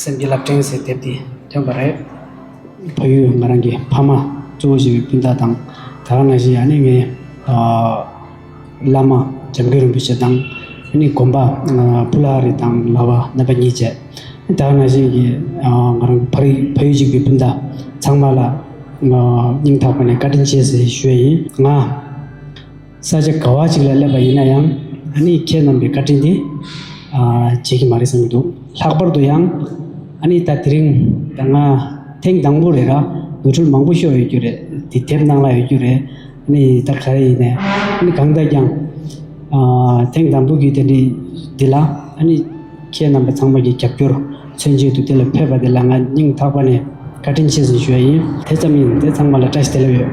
སེམས་ཀྱི་ལ་སྤྲིན་ཟེར་དེབ་དེ་ཐོན་པ་རེད། ཕ་ཡུལ་ང་རང་གི་ཕ་མ་གཙོ་བོ་བྱས་པའི་སྤུན་ཟླ་དང་ད་རང་ན་བཞིན་ཡང་ནི་ངའི་བླ་མ་འཇམ་མགོན་རིན་པོ་ཆེ་དང་ནི་དགོན་པ་བུ་ལ་རི་དང་ལ་བ་རྣམ་པ་གཉིས་བཅས་ད་རང་ན་བཞིན་གྱི་ང་རང་ཕ་རིགས་ཕ་ཡུལ་གཅིག་པའི་སྤུན་ཟླ་ཚང་མ་ལ་སྙིང་ཐག་པ་ནས་བཀའ་དྲིན་ཆེ་ཞེས་ཞུ་བ་ཡིན། ང། ས་ཆ་ག་བ་ཅིག་ལ་སླེབས་པ་ཡིན་ན་ཡང་ཨ་ནིས་ཁྱེད་རྣམས་པའི་བཀའ་དྲིན་དེ་བརྗེད་ཀྱི་མ་རེད་བསམ་གྱི་འདུག་ལྷག་པར་དུ་ཡང་ཨ་ནིས་ད་དེ་རིང་ད་ང་ཐེངས་དང་པོ་རེད་ལ་འགུལ་འཕྲོད་མང་པོ་ཤོར་ཡོད་རྒྱུ་རེད་དེ་དེབ་ནང་ལ་ཡོད་རྒྱུ་རེད་ཨ་ནི་ད་ག་རེ་ཡིན་ནས་གང་ལྟར་ཀྱང་ཐེངས་དང་པོ་བརྒྱུད་དེ་འདྲི་འདི་ལ་ཨ་ནི་ཁྱེད་རྣམས་པ་ཚང་མ་གྱི་རྒྱབ་སྐྱོར་མཚོན་བྱེད་དུ་དེ་ལ་ཕེབས་པ་དེ་ལ་ང་སྙིང་ཐག་པ་ནས་བཀའ་དྲིན་ཆེ་ཟིག་ཞུ་བ་ཡིན། དེ་ཙམ་ཡིན་དེ་ཚང་མ་ལ་བཀྲ་ཤིས་བདེ་ལེགས་ཡོད།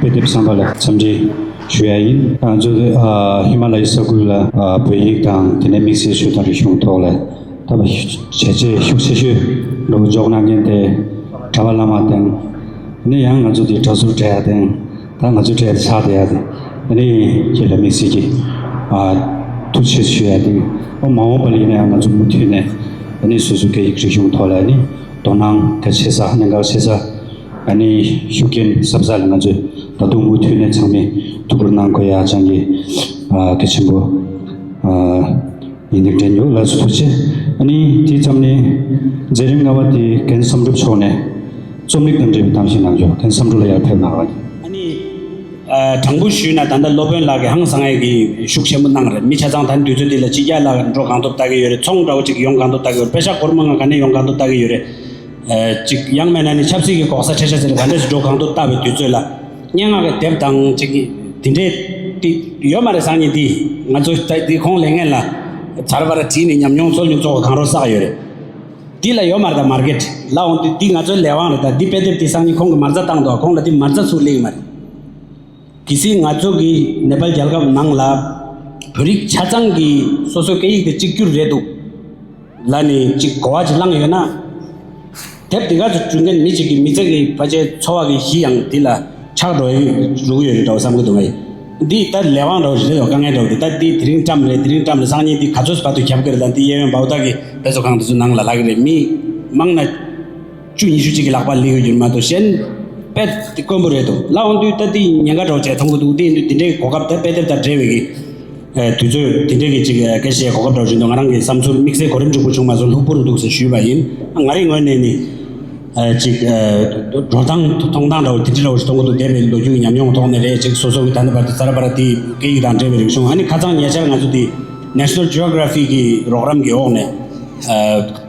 དཔེ་དེབ་བསམ་པ་ལ་འཚམས་འདྲི་ཞུ་ཡ་ཡིན། ང་ཚོ་ཧི་མ་ལ་ཡའི་ས་ཁུལ་ལ་བོད་ཡིག་དང་དེ་ནས་དམིགས་བསལ་ཤོད་དང་རིག་གཞུང་ཐོག་ལ་ད་བར་བྱས་རྗེས་ཤུགས་ཆེ་ཤོས་འགྲོ་འཇོག་གནང་མཁན་དེ་གྲྭ་བ་བླ་མ་དེང་ནི་ཡང་ང་ཚོ་དེ་གྲྭ་ཟུར་གྲྭ་ཡ་དེང་ད་ང་ཚོའི་གྲྭ་ཡ་ཆགས་བསྡད་ཡ་དེ་དེ་ནི་ཡིན་ཁྱེད་ལ་དམིགས་བསལ་གྱི་ཐུགས་ཆེ་ཞུ་ཡ་ཡིན། ཨོ་མ་འོངས་པ་ལ་ཡིན་ན་ཡང་ང་ཚོ་མུ་མཐུད་ནས་ནི་སོ་སོའི་སྐད་ཡིག་རིག་གཞུང་ཐོག་ལ་ནི་དོ་སྣང་གལ་ཆེ་ས་གནད་འགག་ཆེ་ས། ཨ་ནེའི་ཤུགས་རྐྱེན་ཟབ་ས་ལ་ང་ཚོས་ད་དུང་མུ་མཐུད་ནས་ཚང་མས་ཐུགས་ཁུར་གནང་དགོས་ཡ་ཅང་གི་གལ་ཆེན་པོ་ཡིན་འདུག་འདྲེན་མྱུག་ལགས་སུ་ཐུགས་ཆེ་ཨ་ནེ་དེ་ཙམ་ནས་མཛད་རིམ་ལྔ་བ་དེ་གན་བསམ་གྲུབ་མཆོག་ནས་རྩོམ་རིག་དང་འབྲེལ་བའི་གཏམ་ཞིག་གནང་རྒྱུ་གན་བསམ་གྲུབ་ལ་ཡར་ཕེབས་གནང་རོགས། ཨ་ནེ། དྲང་པོ་ཞུས་ན་ད་ལྟ་སློབ་དཔོན་ལགས་ཀྱི་ཧང་སངས་ཨེ་གི་ཤུགས་ཆེན་པོ་གནང་རེད་མི་ཆ་ཚང་ད་དུས་ཚོད་འདི་ལ་སྤྱི་རྒྱ་ལ་འགྲོ་གང་ཐུབ་ལྟ་གི་ཡོད་རེད་ཚོང་འདྲ་བོ་ཅིག་ཡོང་གང་ཐུབ་ལྟ་གི་ཡོད་རེད་དཔེ་ཆ་སྒོར་མོ་ང་ག་ནས་ཡོང་གང་ཐུབ་ལྟ་གི་ཡོད་རེད། གཅིག་དབྱངས་སྨན་ལ་ནི་ཆབ་སྲིད་ཀྱི་གོག་ས་ཁྲེ་ཤ་ཟེར་ག་འདྲས་སུ་འགྲོ་གང་ཐུབ་བལྟ་བའི་དུས་ཚོད་ལ། སྙན་ངག་གི་དེབ་དང་ཅིག་དེ་འདྲས་ཏི་ཡོད་མ་རེད་སང་ཉིན་འདིས་ང་ཚོ་ལྟ་འདི་ཁོང་ལས་ངན་ལ་བར་བར་བྲིས་ནས་ཉམས་མྱོང་ཚོར་མྱོང་ཚོགས་གང་རོགས་བསགས་ཡོད་རེད། འདི་ལ་ཡོད་མ་རེད་ད་མར་གད་ལ་འོང་དུས་འདི་ང་ཚོའི་ལས་དབང་རེད་ད་འདི་དཔེ་དེབ་འདི་སང་ཉིན་ཁོང་གི་མར་རྩ་བཏང་འདུག་ག་ཁོང་ལ་འདི་མར་རྩ་ཚུགས་ལེ་ཡི་མ་རེད། གལ་སྲིད་ང་ཚོ་གིས་ནེ་པལ་རྒྱལ་ཁབ་ནང་ལ་བོད་རིགས་ཆ་ཚང་གི་སོ་སོའི་སྐད་ཡིག་དེ་གཅིག་གྱུར་རེད་འདུག་ལ་ནི་གཅིག་གོ་བ་གཅིག་བླངས་ཡོད་ན། དེབ་འདི་ག་ཚོ་བྲུས་མཁན་མི་གཅིག་གི་མི་ཚེ་གི་ཕ་ཆའི་འཚོ་བ་གི་གཞི་ཡང་འདི་ལ་ཆགས་འགྲོ་ཡི་རུག་ཡོད་འདྲ་བ་བསམ་གི་འདུག་ངའི་འདི་ལྟ་ལས་དབང་འདྲ་བ་ཞིག་རེད་འདུག་དཀའ་ངལ་འདྲ་བ་འདི་ལྟ་འདི་དེ་རིང་བཀྲམས་རེད་དེ་རིང་བཀྲམས་རེད་སང་ཉིན་འདི་ག་ཚོད་བར་དུ་ཁྱབ་གི་རེད་དང་འདི་གཡས་གཡོན་འབའ་འོ་ད་གི་དཔེ་ཚོ་གང་འདི་ཚོ་ནང་ལ་ལྷག་གི་རེད་མི་མང་ན། བཅུ་ཉི་ཤུ་གཅིག་གི་ལག་པར་ལེན་ཡོད་རྒྱུ་ནི་མ་གཏོགས་གཞན། དཔེ་དེ་དཀོན་པོ་རེད་དོ། ལ་དབང་འདུས་ལྟ་དེའི་ཉེན་ཁ་སྒྲོག་བྱས་ཐོམ་གོ་འདུག་དེ་ཡིན་དུས་དེ་འདྲའི་གོ་སྐབས་དེ་དཔེ་དེབ་དང་འབྲེལ་བའི་གི། དུས་ཚོད་དེ་འདྲའི་གི་ཅིག་གེ་བཤད་གོ་སྐབས་སྒྲོག་བཞིན་དུ་ང་རང་གི་བསམ་ཚུལ་དམིགས་བསལ་གོ་རིམ་འཇུག་པོ་བྱུང་མ་སོང་ལྷུག་པོ་རུ་འདུག་ཟེར་ཞུས་པ་ཡིན། ང་རེའི་ངོས་ནས་ནི། ཅིག། འགྲོ་སྟངས་མཐོང་སྟངས་འདྲ་བོ་དེ་འདྲི་འདྲ་བོ་ཞིག་མཐོང་གོ་འདུག་འདས་པའི་ལོ་རྒྱུས་ཀྱི་ཉམས་མྱོང་གི་ཐོག་ནས་རེད་ཅིག་སོ་སོ་གི་ད་ནི་བར་དུ་ཙཱ་ར་པཱ་ར་དེའི་སྐད་ཡིག་དང་འབྲེལ་བའི་རིག་གཞུང་ཨ་ནི་ཁ་ཚང་ཉེ་ཆར་ང་ཚོ་དེའི། National Geography། གི་རོགས་རམ་གི་འོག་ནས།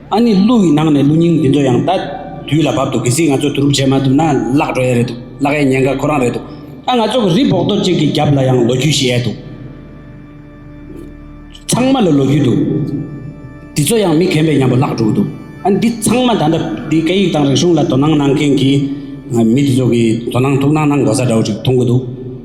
ཨ་ནི་གླུ་ཡི་ནང་ནས་གླུ་རྙིང་འདི་ཚོ་ཡང་ད་དུས་ལ་བབ་འདུག་གལ་སྲིད་ང་ཚོས་དུ་རུབ་བྱས་མ་ཐུབ་ན་བརླག་འགྲོ་ཡས་རེད་འདུག་བརླག་ཡས་ཉེན་ཁ་ཁོ་རང་རེད་འདུག་ད་ང་ཚོ་གི་རི་བོག་རྡོ་གཅིག་གི་རྒྱབ་ལ་ཡང་ལོ་རྒྱུས་ཤི་ཡས་འདུག་ཚང་མ་ལ་ལོ་རྒྱུས་འདུག་འདི་ཚོ་ཡང་མི་གན་པའི་ཉམས་པོ་བརླག་འགྲོ་གི་འདུག་ཨ་ནི་འདི་ཚང་མ་ད་ལྟ་འདི་སྐད་ཡིག་དང་རིག་གཞུང་ལ་དོ་སྣང་གནང་མཁན་གྱི་མི་འདི་ཚོ་གི་དོ་སྣང་ཐུགས་སྣང་གནང་དགོས་ས་འདྲ་བོ་ཞིག་མཐོང་གི་འདུག།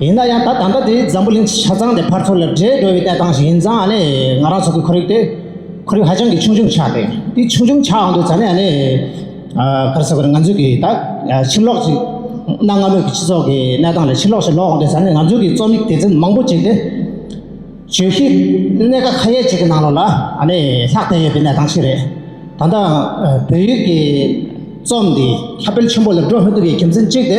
ཡིན་ན་ཡང་ད་ད་ལྟ་དེ་འཛམ་བུ་གླིང་ཆ་ཚང་དེ་ཕར་ཚུར་ལ་འདྲེས་འགྲོ་བའི་གནས་སྟངས་ཤིག་ཡིན་ཙང་ནི་ང་རང་ཚོ་གི་ཁོར་ཡུག་དེ་ཁོར་ཡུག་ཧ་ཅང་གི་ཆུང་ཆུང་ཆགས་ཏེ་དེ་ཆུང་ཆུང་ཆགས་འོང་དུས་ཙང་ནི་ནི་ག་རེ་ཟེར་དགོས་རེད་ང་ཚོས་ཀྱི་ད་ཕྱིར་ལོག་ཅིག་གནའ་སྔ་མོའི་གི་སྤྱི་ཚོགས་ཀྱི་གནས་སྟངས་ལ་ཕྱིར་ལོག་ཞིག་ལོག་འོང་དུས་ཙང་ནི་ང་ཚོས་ཀྱི་རྩོམ་ཡིག་སྡེ་ཚན་མང་པོ་ཅིག་དེ་བརྗོད་གཞི་གནད་ཀ་ཁ་ཡས་ཅིག་གི་ནང་ལོགས་ལ་ནི་ལྷག་བསྡད་ཡོད་པའི་གནས་སྟངས་ཤིག་རེད་ད་ལྟ་བོད་ཡིག་གི་རྩོམ་འདི་ཁྱབ་སྤེལ་ཆེན་པོ་ལ་འགྲོ་མི་ཐུབ་པའི་རྒྱུ་མཚན་གཅིག་དེ་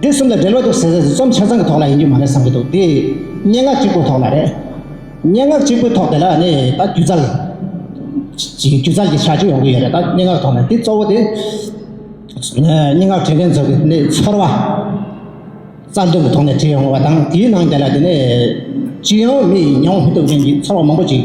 འདི་གསུམ་དང་འབྲེལ་བ་འདུག་ཟེར་ཟེར་རྩོམ་ཆ་ཚང་གི་ཐོག་ལ་ཡིན་རྒྱུ་མ་རེད་བསམ་གྱི་འདུག་འདི་སྙན་ངག་གཅིག་པོའི་ཐོག་ལ་རེད། སྙན་ངག་གཅིག་པོའི་ཐོག་དེ་ལ་ནི་ད་སྒྱུ་རྩལ། སྒྱུ་རྩལ་གྱི་བྱ་སྤྱོད་ཡོང་གི་ཡོད་རེད་ད་སྙན་ངག་ཐོག་ནས་འདི་གཙོ་བོ་དེ། སྙན་ངག་བྲིས་མཁན་ཚོ་ནི་ཚོར་བ། རྩ་དོན་གྱི་ཐོག་ནས་བྲིས་ཡོང་བ་དང་དེའི་ནང་དེ་ལ་དེ་ནས་ཅི་ཡང་མི་ཡིན་མྱོང་མི་ཐུབ་མཁན་གྱི་ཚོར་བ་མང་པོ་ཞིག།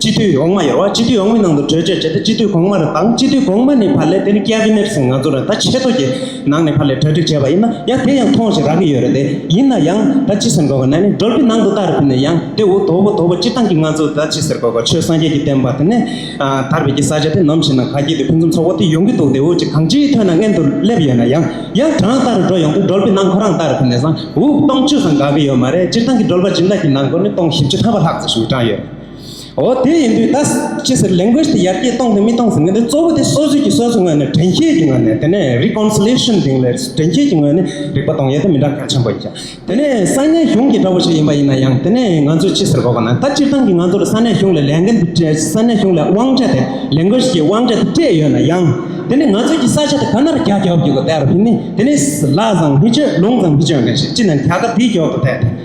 སྤྱི་འཐུས་འོག་མ་ཡོད་བ་སྤྱི་འཐུས་འོག་མའི་ནང་དུ་གྲོས་ཆོད་བྱས་ཏེ་སྤྱི་འཐུས་གོང་མ་རེ་དང་སྤྱི་འཐུས་གོང་མ་ནས་བར་ལས་དེ་ནི་ཀེ་བྷི་ནེར་སིང་ང་ཚོ་རེ་ད་ཆེ་ཚོ་གི་ནང་ནས་བར་ལས་གྲ་སྒྲིག་བྱས་པ་ཡིན་ན་ཡང་དེ་ཡང་ཐོང་ཞིག་རག་གི་ཡོད་རེད་དེ་ཡིན་ན་ཡང་ད་ཅི་ཟེར་དགོས་གོ་ན་ནི་སྒྲོལ་པི་ནང་དུ་ལྟ་རེ་ཕུལ་ནས་ཡང་དེ་འུ་དོ་བུ་དོ་བུ་སྤྱི་བཏང་གི་ང་ཚོ་ད་ཅི་ཟེར་དགོས་གོ་ཆོས་སངས་རྒྱས་ཀྱི་བསྟན་པ་དེ་ནས་དར་བས་ཀྱི་ས་ཆ་དེ་ནམ་ཞིག་ན་ག་གྱེས་དེ་ཕུན་སུམ་ཚོགས་པོ་དེ་ཡོང་གི་འདུག་དེ་འུ་ཅི་གང་ཅིའི་ཐོད་ན་མངལ་དུ་སླེབས་ཡོད་ན་ཡང་ཡང་གྲང་ལྟ་རུ་འགྲོ་ཡོང་དུས་སྒྲོལ་པི་ནང་ཁོ་རང་ལྟ་རེ་ཕུལ་ནས་བཟང་འུ་སྟོང་བཅུ་ཙམ་དགའ་གི་ཡོད་མ་རེད་སྤྱིར་བཏང་གི་སྒྲོལ་པ་སྦྱིན་བདག་གི་ནང་སྒོ་ནི་སྟོང་བཞི་བཅུ་ཐར་བ་ལྷག་ཙམ་ཞིག་གྲང་ཡོད། འོ་དེ་ཡིན་དུས་ད་ཅི་ཟེར Language དེ་ཡར་རྒྱས་གཏོང་དང་མི་གཏོང་ཟེར་མཁན་དེ་གཙོ་བོ་དེ་སོ་སོའི་ཀྱི་སོ་སོའི་ངོས་ནས་དྲན་ཤེས་ཀྱི་ངོས་ནས་དེ་ནས Reconciliation དེ་ལས་དྲན་ཤེས་ཀྱི་ངོས་ནས་རིག་པ་གཏོང་ཡས་དེ་མི་འདྲ་གལ་ཆེན་པོ་ཡིན་ཀྱང་དེ་ནས་ས་གནས་གཞུང་གི་འདྲ་བོ་ཞིག་ཡིན་པ་ཡིན་ན་ཡང་དེ་ནས་ང་ཚོས་ཅི་ཟེར་དགོས་པ་ན་ད་སྤྱིར་བཏང་གི་ང་ཚོར་ས་གནས་གཞུང་ལས་ལས་འགན་དེ་སྤྲད་ས་གནས་གཞུང་ལས་དབང་ཆ་དེ Language ཀྱི་དབང་ཆ་དེ་སྤྲད་ཡོད་ན་ཡང་དེ་ནས་ང་ཚོའི་ཀྱི་ས་ཆ་དེ་ག་ནར་རྒྱ་བསྐྱོར་རྒྱུ་གོ་དེ་ཨ་ར་བྷི་ནི་དེ་ནས་ལ་བཟང་བྷི་ཆོས་ལུང་བཟང་བྷི་ཆོས་ནས་ཞེས་ཅི་ནས་དེ་ག་དེའི་འགྱོག་ཏུ་བསྡད་དེ།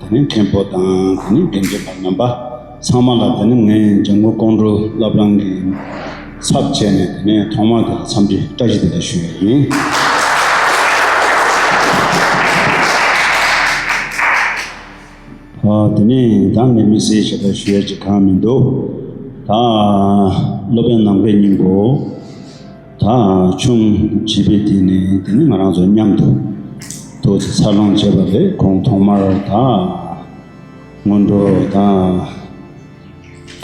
ད་ནི་མཁན་པོ་དང་ད་ནི་བདེན་བརྗོད་པ་རྣམ་པ་ཚང་མ་ལ་ད་ནི་ངས་འཇམ་མགོན་ཀོང་སྤྲུལ་བླ་བྲང་གི་ཚབ་བྱས་ནས་ད་ནི་ཐོག་མར་དེ་ལ་འཚམས་འདྲི་བཀྲ་ཤིས་བདེ་ལེགས་ཞུ་ཡི་ཡིན། དེ་ནས་ད་ནི་མི་སེར་ཞེས་པ་ཞུ་ཡ་ཅིག་གང་མི་འདུག་ད་སློབ་དཔོན་ནམ་མཁའི་སྙིང་པོ། དང་ཆུང་བྱིས་པའི་དུས་ནས་དེ་ནི་ང་རང་ཚོ་མཉམ་དུ་ཐུགས་རྗེ་འཚར་ལོངས་བྱས་པ་རེད་ཁོང་ཐོག་མར་དང་སྔོན་འགྲོ་དང་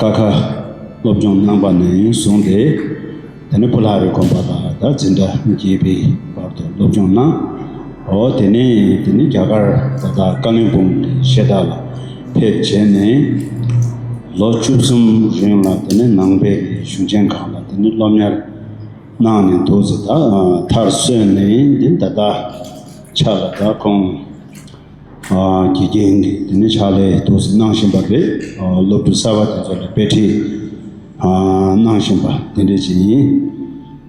ཀ་ཁ་སློབ་སྦྱོང་གནང་པ་ནས་བཟུང་སྟེ་དེ་ནས་ཕོ་ལྷ་རེ་གོན་པ་ལ་ད་འཛིན་གྲྭ་བརྒྱད་པའི་བར་དུ་སློབ་སྦྱོང་གནང་འོ་དེ་ནས་དེ་ནི་རྒྱ་གར་བ་དག་བཀའ་བློན་དཔུང་སྡེ་ཤེས་རྟགས་ལ་ཕེབས་བྱས་ནས་ལོ་བཅུ་གསུམ་རིང་ལ་དེ་ནི་ནང་པའི་གཞུང་ཆེན་ཁག་ལ་དེ་ནི་སློབ་གཉེར་གནང་ནས་འདུག་ཟེར། མཐར་གསོན་ནས་འདི་ད་ལྟ་ཕྱག་ལས་དག་ཁོང་གི་རྐྱེན་གྱིས་དེ་ནི་ཕྱག་ལས་དུ་གནང་བཞིན་པ་རེད། སློབ་ཕྲུག་གསར་པ་དེ་ཚོ་ལ་དཔེ་ཁྲིད་གནང་བཞིན་པ་དེ་འདྲས་ཅིག་ཡིན།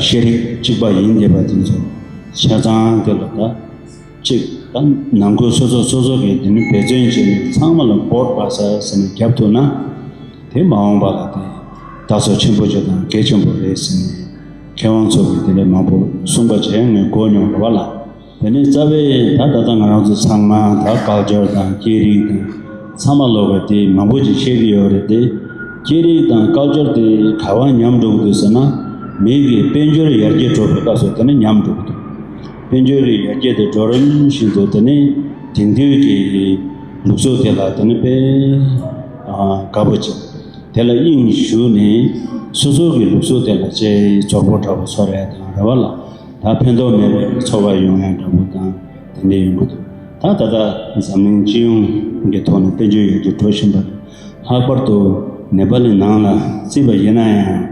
ཤེས་རིག་གཅིག་པ་ཡིན་དགོས་པ་དེ་ཚོ་ཆ་ཚང་དེ་ལ་དག་གཅིག་དང་ནང་ཁུལ་སོ་སོ་སོ་སོ་གིས་དེ་ནི་འབད་བརྩོན་བྱས་ནས་ཚང་མ་ལ་འབོར་བ་ཟ་ཟེར་ནས་བརྒྱབ་ཐུབ་ན་དེ་མ་འོངས་པ་ལ་དེ་ད་གཟོད་ཆེན་པོ་ཆེ་དང་དགེ་ཆེན་པོ་རེད་ཟེར་ནས་མཁས་དབང་ཚོ་གིས་དེ་ལས་མང་པོ་གསུངས་པ་བྱས་ངས་གོ་མྱོང་རེད་བ་ལ། དེ་ནས་རྩ་བའི་ད་ད་ལྟ་ང་རང་ཚོ་ཚང་མ་ད་བཀག་སྦྱོར་དང་སྐད་རིགས་དང་ཚང་མ་ལོག་པའི་དེ་མང་པོ་ཅིག་བཤད་ཀྱི་ཡོད་རེད་དེ། སྐད་རིགས་དང་བཀག་སྦྱོར་དེ་ག་བ་ཉམས་འགྲོ་གི་འདུག་ཟེར་ན། མིང་གི་དཔལ་འབྱོར་ཡར་རྒྱས་འགྲོ་བའི་སྐབས་སུ་དེ་ནི་ཉམས་འགྲོ་གི་འདུག་དཔལ་འབྱོར་གྱི་ཡར་རྒྱས་དེ་འགྲོ་རིམ་བཞིན་དུ་དེ་ནི་དེང་དུས་ཀྱི་ལུགས་སྲོལ་དེ་ལ་དེ་ནི་དཔེ་དགའ་པོ་ཅིག་དེ་ལ་དབྱིངས་བཞུགས་ནས་སོ་སོ་གི་ལུགས་སྲོལ་དེ་ལ་དཔྱད་ཕྱོགས་པོ་འདྲ་བོ་ཚོ་རེ་དང་རེ་བ་ལ། ད་ཕན་ཐོགས་མེད་པའི་འཚོ་བ་ཡོང་ཡ་འདྲ་པོ་དང་དེ་འདྲས་ཡོང་གི་འདུག་ད་ད་ལྟ་འཛམ་གླིང་སྤྱི་ཡོངས་ཀྱི་ཐོག་ནས་བཙན་བྱོལ་ཡུལ་གྱི་འགྲོ་བཞིན་པ་དེ་ལྷག་པར་དུ་ནེ་པ་ལའི་ནང་ལ་བརྩིས་པ་ཡིན་ན་ཡང་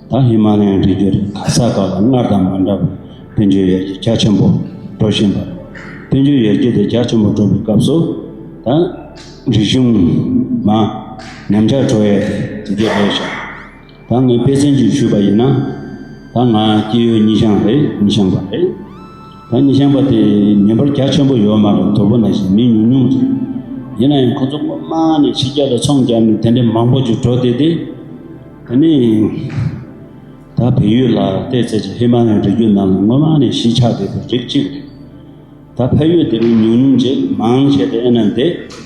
ད་ཧི་མ་ལའི་རི་རྒྱུད་རེ་ཁ་ས་ཁག་ལ་སྔར་དང་མ་འདྲ་བར་བཙན་བྱོལ་ཡར་རྒྱས་རྒྱ་ཆེན་པོ་འགྲོ་བཞིན་པ་རེད། བཙན་བྱོལ་ཡར་རྒྱས་དེ་རྒྱ་ཆེན་པོ་འགྲོ་བའི་སྐབས་སུ་ད་རིག་གཞུང་མ་ཉམས་ཆག་འགྲོ་ཡ་དེ་དེ་འདྲས་རེད་བཞག། ད་ངས་དཔེ་ཚན་གཅིག་ཞུས་པ་ཡིན་ན། ད་ང་སྐྱེས་ཡུལ་གཉིས་ཤང་རེད་གཉིས་ཤང་པ་རེད། ད་གཉིས་ཤང་པ་དེ་ཉིན་པར་རྒྱ་ཆེན་པོ་ཡོད་མ་རེད་དོ་པོ་ན་བཞིན་མི་ཉུང་ཉུང་རེད། ཡིན་ན་ཡང་ཁོ་ཚོ་སྔོན་མ་ནས་ཕྱི་རྒྱལ་ལ་ཚོང་བརྒྱབ་ནས་དེ་འདྲའི་མང་པོ་ཅིག་འགྲོ་བསྡད་དེ། དེ་ནས་ད་བལ་ཡུལ་ལ་བལྟས་ཚར་རྗེས་ཧི་མ་ལའི་རི་རྒྱུད་ནང་ལ་སྔོན་མ་ནས་གཞིས་ཆགས་བསྡད་པའི་རིགས་གཅིག་རེད། ད་ཕ་ཡུལ་དེ་མི་ཉུང་ཉུང་ཅིག་མང་ཆེ་བསྡད་ན་བསྡད།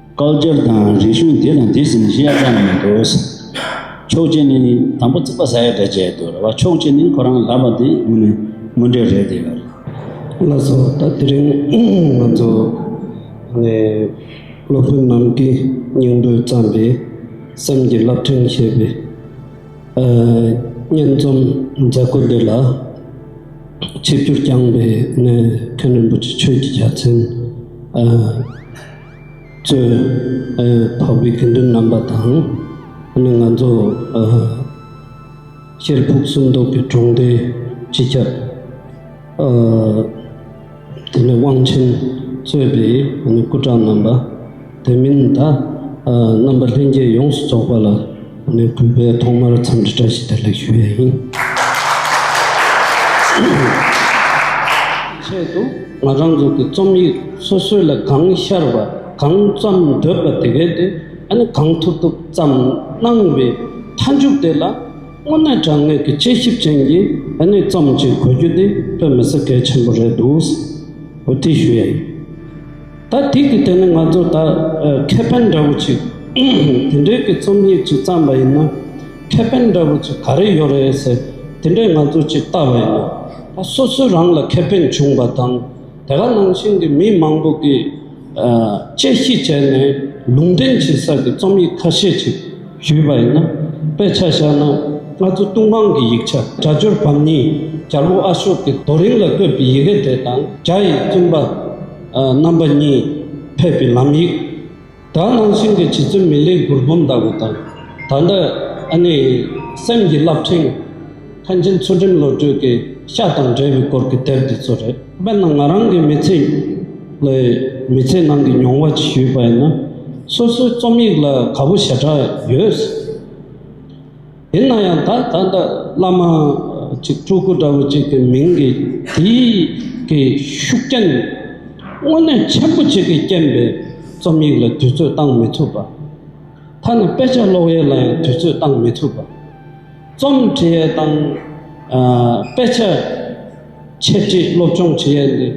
བཀག་སྦྱར་དང་རིག་གཞུང་དེ་དང་དེ་ཟིན་བཞི་ཡ་ཙམ་ཡོད་དོ། ཕྱོགས་གཅིག་ནི་དང་པོ་རྩིག་པ་ཟ་ཡ་འདྲ་བྱས་འདུག་རེད་བ་ཕྱོགས་གཅིག་ནི་ཁོ་རང་ལབ་པ་འདི་དངོས་ནས་དངོས་འབྲེལ་རེད་འདི་ལབ། བླ་སྲོག་ད་དེ་རིང་ང་ཚོ་ནས་སློབ་དཔོན་རྣམས་ཀྱིས་སྙིང་པོས་བརྩམས་པའི་སེམས་ཀྱི་རླབས་ཕྲེང་ཞེས་པའི་སྙན་རྩོམ་མཛད་སྒོ་འདི་ལ་ཆིབས་བསྒྱུར་བསྐྱངས་པའི་གནས་མཁན་རིན་པོ་ཆེ་ཆོས་ཀྱི་རྒྱལ་མཚན། གཙོས། འཕགས་པའི་དགེ་འདུན་རྣམ་པ་དང། ནི་ང་ཚོ། གཅེར་ཕུག་གསུམ་མདོ་གི་གྲོང་སྡེ་སྤྱི་ཁྱབ། དེ་ནས་དབང་ཆེན་གཙོས་པའི་སྐུ་དྲག་རྣམ་པ། དེ་མིན་དག་རྣམ་པ་ལྷན་རྒྱས་ཡོངས་སུ་རྫོགས་པ་ལ། ནས་བསྐྲུན་པའི་ཐོག་མར་འཚམས་འདྲི་བཀྲ་ཤིས་བདེ་ལེགས་ཞུ་ཡས་ཡིན། ཆེད་དུ་ང་རང་ཚོ་གི་རྩོམ་ཡིག་སོ་སོའི་ལ་གང་ཤར་བ་གང་བརྩམས་འདོད་པ་དེ་གའི་དེ་ནི་གང་ཐུབ་ཐུབ་བརྩམས་གནང་བའི་མཐའ་མཇུག་དེ་ལ་དངོས་གནས་དྲང་ངེས་ཀྱི་དཔྱད་ཞིབ་ཅན་གྱི་གནས་རྩོམ་ཅིག་གོ་རྒྱུ་དེ་དཔེ་མི་སྲིད་གལ་ཆེན་པོ་རེད་འདུག་ཟེར་འོས་ཐི་ཞུ་ཡས་ཡིན། ད་ཐིག་གི་དེ་ནི་ང་ཚོ་ད་ཁེ་ཕན་འདྲ་བོ་ཅིག་དེ་འདྲའི་གི་རྩོམ་ཡིག་ཅིག་བརྩམས་པ་ཡིན་ན་ཁེ་ཕན་འདྲ་བོ་ཅིག་ག་རེ་ཡོད་རེད་ཟེར་དེ་འདྲའི་ང་ཚོ་ཅིག་བལྟ་བ་ཡིན་ན་ད་སོ་སོའི་རང་ལ་ཁེ་ཕན་བྱུང་བ་དང་དེ་ག་ནང་བཞིན་གི་མི་མང་པོ་གིས་དཔྱད་གཞི་བྱས་ནས་ལུང་འདྲེན་བྱེད་ས་གི་རྩོམ་ཡིག་ཁ་ཤས་ཅིག་ཞུས་པ་ཡིན་ན་དཔེ་ཆ་བཞག་ན་ང་ཚོ་ལྟུང་བང་གི་ཡིག་ཆ་རྒྱ་སྦྱོར་བམ་གཉིས་རྒྱལ་བོ་ཨ་ཤོ་ཀི་རྡོ་རིང་ལ་བཀོད་པའི་ཡི་གེ་དེ་དང་རྒྱ་ཡི་བཙུན་པ་རྣམ་པ་གཉིས་ཕེབས་པའི་ལམ་ཡིག། ད་ནང་བཞིན་གྱི་བྱིས་བརྩོན་མི་ལའི་མགུར་འབུམ་ལྟ་བུ་དང། ད་ལྟ་ཨ་ནེ་ཡི་སེམས་ཀྱི་རླབས་ཕྲེང། ལྷན་སྐྱེས་ཚུལ་ཁྲིམས་བློ་གྲོས་ཀྱི་ཤ་དང་འབྲེལ་བའི་སྐོར་གྱི་དེབ་འདི་ཚོ་རེད། དཔེར་ན་ང་རང་གི་མི་ཚེ་ལས་མི་ཚེ་ནང་གི་མྱོང་བ་ཇི་ཞུས་པ་ཡིན་ན། སོ་སོའི་རྩོམ་ཡིག་ལ་ག་བུ་ཞེ་དྲགས་ཡོད། ཡིན་ན་ཡང་ད་ད་ལྟ་བླ་མ་གཅིག་སྤྲུལ་སྐུ་འདྲ་བོ་གཅིག་གི་མིང་གི་དེའི་གི་ཤུགས་རྐྱེན་དངོས་གནས་ཆེན་པོ་གཅིག་གི་རྐྱེན་པས་རྩོམ་ཡིག་ལ་དུས་ཚོད་བཏང་མི་ཐུབ་པ། ཐ་ན་དཔེ་ཆ་ཀློག་ཡས་ལ་ཡང་དུས་ཚོད་བཏང་མི་ཐུབ་པ། རྩོམ་འབྲི་ཡས་དང་དཔེ་ཆ་འཆད་ཁྲིད་སློབ་སྦྱོང་བྱེད་ཡས་འདི་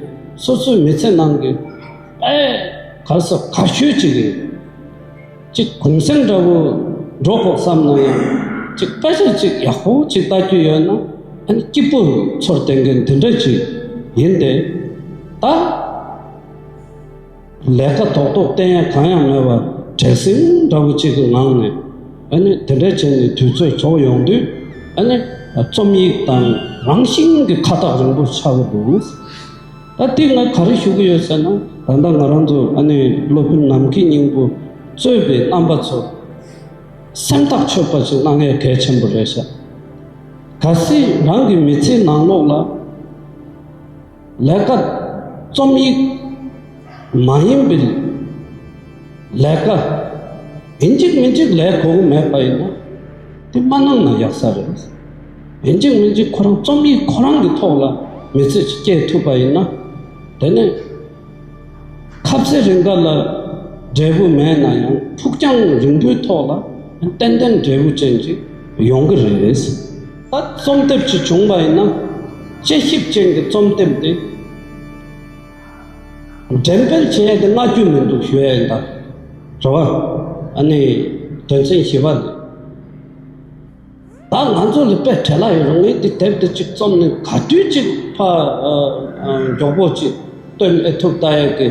སོ་སོའི་མི་ཚེ་ནང་གི་དཔེ་ག་ས་ག་ཤོས་གཅིག་ཡིན། གཅིག་གུང་གསེང་འདྲ་བོ་འགྲོ་ཤོག་བསམ་ན་ཡང་གཅིག་ལྟ་གཞིར་གཅིག་ཡག་པོ་གཅིག་ལྟ་རྒྱུ་ཡོད་ན་ཨ་ནི་སྐྱིད་པོ་ཚོར་བསྟེན་མཁན་དེ་འདྲ་ཅིག་ཡིན་ཏེ། ད་ལས་ཀ་ཐོག་ཐོག་བསྟེན་ཡ་གང་ཡང་མེད་པར་བྲེལ་ཟིང་འདྲ་བོ་གཅིག་གི་ངང་ནས་ཨ་ནི་དེ་འདྲ་བྱས་ནས་དུས་ཚོད་འཚོགས་ཡོང་དུས་ཨ་ནི་རྩོམ་ཡིག་དང་རང་བཞིན་གྱི་ཁ་ཐག་རིང་པོ་ཆགས་ཀྱི་འདུག། ཨ་ཏི་ང་ག་རེ་ཞུ་གི་ཡོད་ཟེར་ན། ད་ལྟ་ང་རང་ཚོ་ཨ་ནེའི་སློབ་དཔོན་ནམ་མཁའི་སྙིང་པོ་གཙོས་པའི་རྣམ་པ་ཚོ་སེམས་ཐག་ཆོད་པ་ཞིག་གནང་ཡ་གལ་ཆེན་པོ་རེད་ཤག་གལ་སྲིད་རང་གི་མི་ཚེའི་ནང་ལོགས་ལ་ལས་ཀ་རྩོམ་ཡིག་མ་ཡིན་པའི་ལས་ཀ་ཡིན་གཅིག་མིན་གཅིག་ལས་གོ་གི་མེད་པ་ཡིན་ན་དེ་མ་གནང་ན་ཡག་ས་རེད། ཡིན་གཅིག་མིན་གཅིག་ཁོ་རང་རྩོམ་ཡིག་ཁོ་རང་གི་ཐོག་ལ་མི་ཚེ་ཞིག་སྐྱེལ་ཐུབ་པ་ཡིན་ན། དེ་ནི། ཁ་ཚེ་རིང་དགའ་ལ་འབྲས་བུ་མེད་ན་ཡང་ཕུགས་རྒྱང་རིང་པོའི་ཐོག་ལ་ཏན་ཏན་འབྲས་བུ་ཅན་ཅིག་ཡོང་གི་རེད། ད་རྩོམ་དེབ་ཅིག་བྱུང་བ་ཡིན་ན། དཔྱད་ཞིབ་ཅན་གྱི་རྩོམ་དེབ་དེ། འགྲེམས་སྤེལ་བྱེད་ཡ་དེ་སྔ་རྒྱུ་མི་འདུག་ཞུ་ཡ་ཡིན་ད། རེད་བ། ཨ་ནི་དོན་ཚན་བཞི་བ་ལས། ད་ང་ཚོ་ལ་དཔེ་བྲལ་ལ་ཡོད་རང་ཉིད་ཀྱི་དེབ་དེ་གཅིག་རྩོམ་ནས་ག་དུས་གཅིག་ཕ་མགྱོགས་པོ་གཅིག་བཏོན་ཨེ་ཐུབ་ལྟ་ཡག་གི་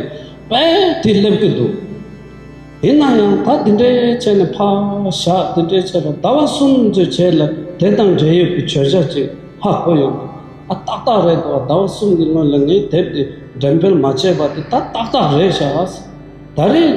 དཔེ་དེ་སླེབས་ཀྱི་འདུག་ཡིན་ན་ཡང་ད་དེ་འདྲའི་བྱས་ནས་ཕ་ཞག་དེ་འདྲའི་བྱས་པ་ཟླ་བ་གསུམ་ཙོས་བྱས་ལ་དེ་དང་འབྲེལ་ཡོད་ཀྱི་བྱོལ་བྱ་ཅིག་ཧ་གོ་ཡོང་གི་ཨ་ཏག་ཏག་རེད་དོ་ཟླ་བ་གསུམ་གྱི་སྔོན་ལ་ངས་དེབ་དེ་འགྲེམས་སྤེལ་མ་བྱས་པ་དེ་ད་ཏག་ཏག་རེད་ཤག་ཨ་ཟེར་ད་རེས།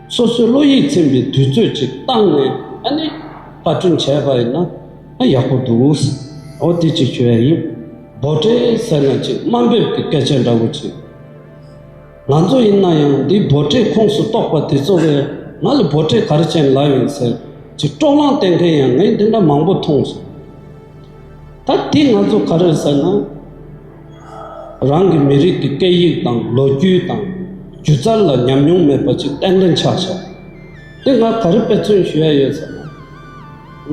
སོ་སོའི་བློ་ཡིད་ཚིམ་པའི་དུས་ཚོད་ཅིག་བཏང་ནས་ཨ་ནི། བཀའ་དྲིན་ཆེ་བ་ཡིན་ན་ཨ་ཡག་པོ་འདུག་ཨོ་དེ་ཅིག་ཞུ་ཡ་ཡིན། འབོ་ཏྲེ་ཟེར་ན་ཅིག་དམའ་འབེབས་ཀྱི་སྐད་ཆ་འདྲ་བོ་ཅིག་ང་ཚོ་ཡིན་ན་ཡང་འདི་འབོ་ཏྲེའི་ཁོངས་སུ་གཏོགས་པ་དེ་ཚོ་བས་ང་ལ་འབོ་ཏྲེ་ག་རེ་ཅན་ལབ་ཡོང་ཟེར་ཅིག་དཀྲོག་གླང་བསྟན་མཁན་ཡང་ངས་འདི་འདྲ་མང་པོ་མཐོང་སོང། ད་དེ་ང་ཚོ་ག་རེ་ཟེར་ན། རང་གི་མི་རིགས་ཀྱི་སྐད་ཡིག་དང་ལོ་རྒྱུས་དང་སྒྱུ་རྩལ་ལ་ཉམས་མྱོང་མེད་པ་ཅིག་གཏན་འཁེལ་ཆགས་བྱུང། དེ་ང་ག་རེ་དཔེ་མཚོན་ཞུ་ཡ་ཡོད་ཟེར་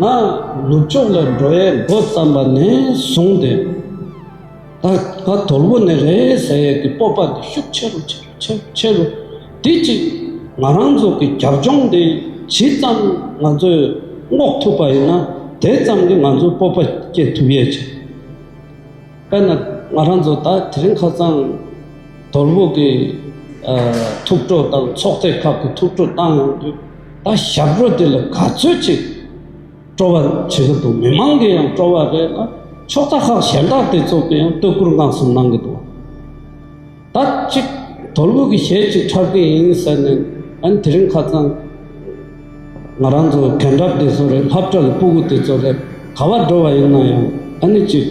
ན། ང་ནུབ་ཕྱོགས་ལ་འགྲོ་ཡའི་མགོ་བརྩམས་པ་ནས་བཟུང་སྟེ། ད་ང་དོལ་པོ་ནས་རེད་ཟེར་ཡས་ཀྱི་སྤོབས་པ་འདི་ཤུགས་ཆེ་རུ་ཆེ་རུ་ཆེ་རུ་ཆེ་རུ་དེ་ཅིག་ང་རང་ཚོ་གི་རྒྱབ་ལྗོངས་འདི་ཇི་ཙམ་ང་ཚོས་བསྔོགས་ཐུབ་པ་ཡིན་ན་དེ་ཙམ་གྱིས་ང་ཚོའི་སྤོབས་པ་སྐྱེད་ཐུབ་ཡས་ཆེ། དཔེར་ན་ང་རང་ཚོ་ད་དེ་རིང་ཁ་སང་དོལ་པོ་གི་ཐུགས་སྤྲོ་དང་ཚོགས་སྡེ་ཁག་གི་ཐུགས་སྤྲོ་བཏང་ཡོང་དུས་ད་ཞབས་བྲོ་དེ་ལ་ག་ཚོད་ཅིག་སྤྲོ་བ་བྱེད་ཀྱི་འདུག་མི་མང་གི་ཡང་སྤྲོ་བ་རེད་ལ་ཕྱོགས་རྩ་ཁག་གཞན་དག་དེ་ཚོ་གི་ཡང་བསྟོད་བཀུར་སྔགས་གསུམ་གནང་གི་འདུག། ད་ཅིག་དོལ་པོ་གི་ཞལ་གཅིག་ཁྲག་གི་ཡིན་ཟེར་ནས་ཨན་དེ་རིང་ཁ་ཙང་ང་རང་ཚོ་གན་དྲག་འདི་ཚོ་རེད་ལྷབ་དྲ་ལ་སྤུ་གུ་དེ་ཚོ་རེད་ག་བ་འགྲོ་བ་ཡིན་ན་ཡང་ཨ་ནི་ཅིག་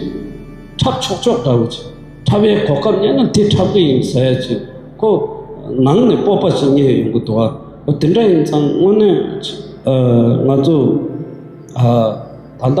ཁྲག་ཆོག་ཆོག་འདྲ་བོ་ཅིག་ཁྲ་བའི་གོ་སྐབས་རྙེད་ན་དེ་ཁྲག་གི་ཡིན་ཟེར་ཅིག་ཁོ་ནང་ནས་སྤོབས་པ་ཞིག་རྙེད་ཡོང་གི་འདུག་ཨ་དེ་འདྲ་ཡིན་ཙང་དངོས་གནས་ང་ཚོ་ད་ལྟ་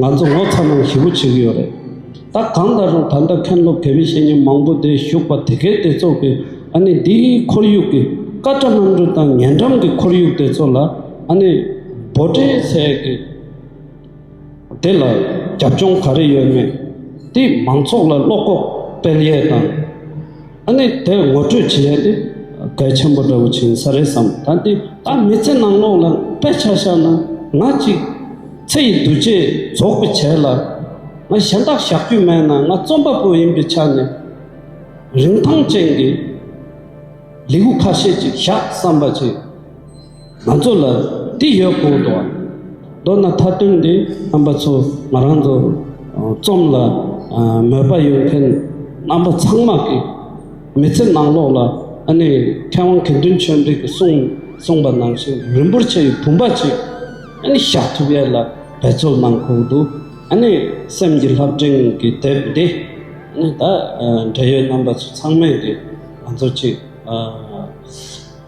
ང་ཚོ་ངོ་ཚ་ནང་ཞི་བོ་བྱེད་ཀྱི་ཡོད་རེད། ད་གང་ལྟར་རུང་ད་ལྟ་མཁན་སློབ་དད་མི་བཤེས་གཉེན་མང་པོ་དེ་བཞུགས་པ་དེ་གའི་དེ་ཚོ་གི་ཨ་ནི་འདི་ཁོར་ཡུག་གི་སྐ་བཀྲ་གནམ་གྲུ་དང་ཉེ་འགྲམ་གི་ཁོར་ཡུག་དེ་ཚོ་ལ་ཨ་ནི་འབོ་ཏྲའི་ཚལ་གི་དེ་ལ་རྒྱབ་ལྗོངས་ག་རེ་ཡོད་མེད་དེ་མང་ཚོགས་ལ་བློ་ཁོག་སྤེལ་ཡས་དང། ཨ་ནི་དེ་ངོ་སྤྲོད་བྱེད་ཡས་ཏེ། གལ་ཆེན་པོ་འདྲ་བོ་བྱིན་ས་རེད་བསམ་ད་འདི་ད་མི་ཚེ་ནང་ལོག་ལ་དཔེ་ཆ་བཞག་ན་ང་གཅིག། ཚེ་ཡི་འདུ་བྱེད་རྫོགས་པའི་བྱས་ལ། ང་གཞན་དག་བཞག་རྒྱུ་མེད་ན་ང་རྩོམ་པ་པོ་ཡིན་པའི་ཆ་ནས། རིན་ཐང་ཅན་གྱི་ལེའུ་ཁ་ཤས་ཅིག་བཞག་བསམ་པ་བྱས། ང་ཚོ་ལ་དེ་ཡོད་དགོས་འདུག་མདོར་ན་མཐའ་དོན་འདི་རྣམ་པ་ཚོ་ང་རང་ཚོ་རྩོམ་ལ་མོས་པ་ཡོད་མཁན་རྣམ་པ་ཚང་མ་གི་མི་ཚེ་ནང་ལོག་ལ་ཨ་ནི་མཁས་དབང་དགེ་འདུན་ཆོས་འབྲིང་གི་གསུངས་པ་ནང་བཞིན་རིན་པོ་ཆེའི་བུམ་པ་ཅིག་ཨ་ནི་བཞག་ཐུབ་ཡས་ལ་འབད་རྩོལ་གནང་དགོས་འདུག་ཨ་ནི་སེམས་ཀྱི་ལྷ་བྲིང་གི་དེབ་འདི་ཨ་ནི་ད་འབྲེལ་ཡོད་རྣམ་པ་ཚོ་ཚང་མས་གི་ང་ཚོ་གཅིག